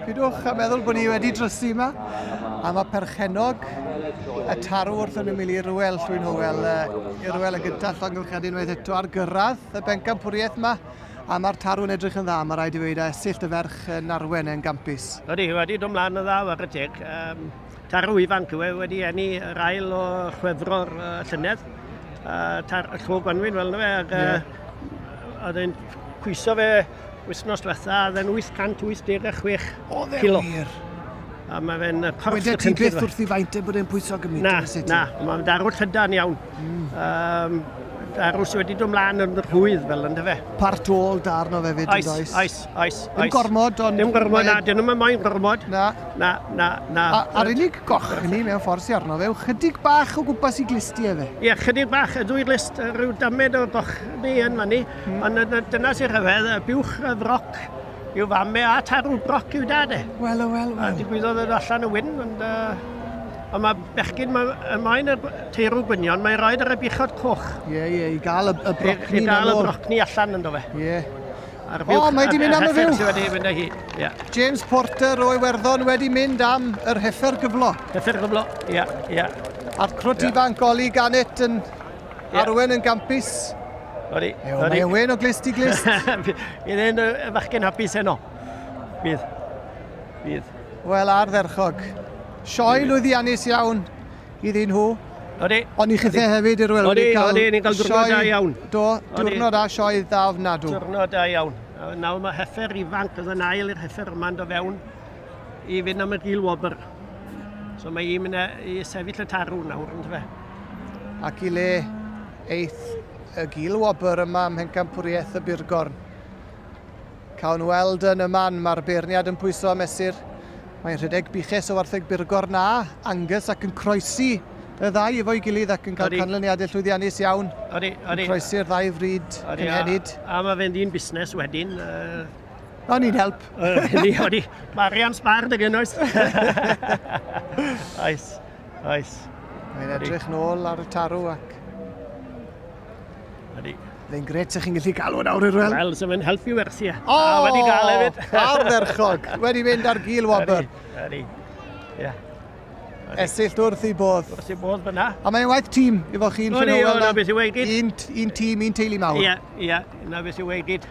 Pidwch a meddwl bod ni wedi drysu yma, a mae perchennog y tarw wrth yn ymwneud i Rwel Llwyn Hywel, i Rwel yn gyntaf, llongyflchad unwaith eto ar gyrraedd y bencampwriaeth yma, a mae'r tarw yn edrych yn dda, mae rhaid i weid, a syllt y ferch yn arwen yn gampus. Ydy, wedi dod mlaen yn dda, wag y teg. Um, tarw ifanc yw e, wedi enni yr ail o chwefro'r uh, llynedd. Uh, tar, y llwg gwanwyn fel yna fe, ac uh, yeah. oedd e'n pwyso fe Wythnos diwetha, oedd e'n 886 Oedd e Kilo. wir? A mae fe'n yy, corff Weda y ti cynllun. beth wrth i faint e bod e'n pwyso gymaint? Na, yn y city? na, mae'n darw llydan iawn. Um, darw sydd wedi dod mlaen yn rhwydd fel ynddo fe. Part all darn o fefyd yn Oes, does? oes, oes, Dim oes. gormod, ond... Dim gormod, mae- na, dyn nhw'n moyn gormod. Na. Na, na, na. A- A'r unig goch i ni mewn ffordd sy arno fe yw chydig bach o gwmpas i glisti efe. Ie, chydig bach, y ddwy list, rhyw damed o goch ni yn fan ni. Ond y- y- dyna sy'n rhyfedd, y buwch y froc yw fam me a tarw broc yw dad e. Wel, o, wel, A wel. digwyddodd yn allan y wyn, ond... Uh, ond mae bechgyn, mae y moyn y b- teirw gwynion, mae'n rhoi ar y buchod coch. Ie, ie, i gael y, y I, brocni i dal y brocni allan ynddo fe. Ie. A'r O, buwch- mae 'di a'r- mynd am y a'r heffer fuwch. sydd wedi mynd â hi. Ie. James Porter o Iwerddon wedi mynd am yr heffer gyflo. Heffer gyflo. Ie, ie. A'r crwt ifanc Oli Gannet yn Arwen yn gampus. Ori. Mae Ewen o glist i glist. Bydd e'n fachgen hapus heno. Bydd. Bydd. Wel, ardderchog. Sioe lwyddiannus iawn iddyn nhw. Odi. Ond i chithau hefyd i'r welwyr i cael... Odi, ni'n cael diwrnod da iawn. Do, diwrnod da sioe dda ofnadw. Diwrnod da iawn. Nawr mae heffer ifanc, oedd yn ail i'r heffer yma'n do fewn. I fynd am y gil wobr. So mae hi'n mynd i sefyll y tarw nawr, yn fe. Ac i le eith y gil wobr yma ym Mhencampwriaeth y Burgorn. Cawn weld yn y man, mae'r beirniad yn pwyso a mesur. Mae'n rhedeg biches o wartheg Burgorn a Angus ac yn croesi y ddau efo'i gilydd ac yn cael canlyniadau llwyddiannus iawn. Odi, odi. Yn croesi'r ddau fryd cynhenid. A, a mae fe'n dyn busnes wedyn. Uh... I need help. Mae Arian Sbar dy gyn oes. Oes, oes. Mae'n edrych nôl ar y tarw ac... Ydy. Fe'n gret sa'ch chi'n gallu galw yn awr i'r wel. Wel, so fe'n helpu wersi. E. O! A wedi gael hefyd. Arferchog. Wedi mynd ar gil wobr. Ydy, ydy. Yeah. Esill wrth i bodd. Wrth i bodd fyna. A mae'n waith tîm, efo chi'n ffynol. Ydy, yna beth i weid gyd. Un, un tîm, un teulu mawr. Ie, yeah, ie, yeah, yna beth i weid gyd.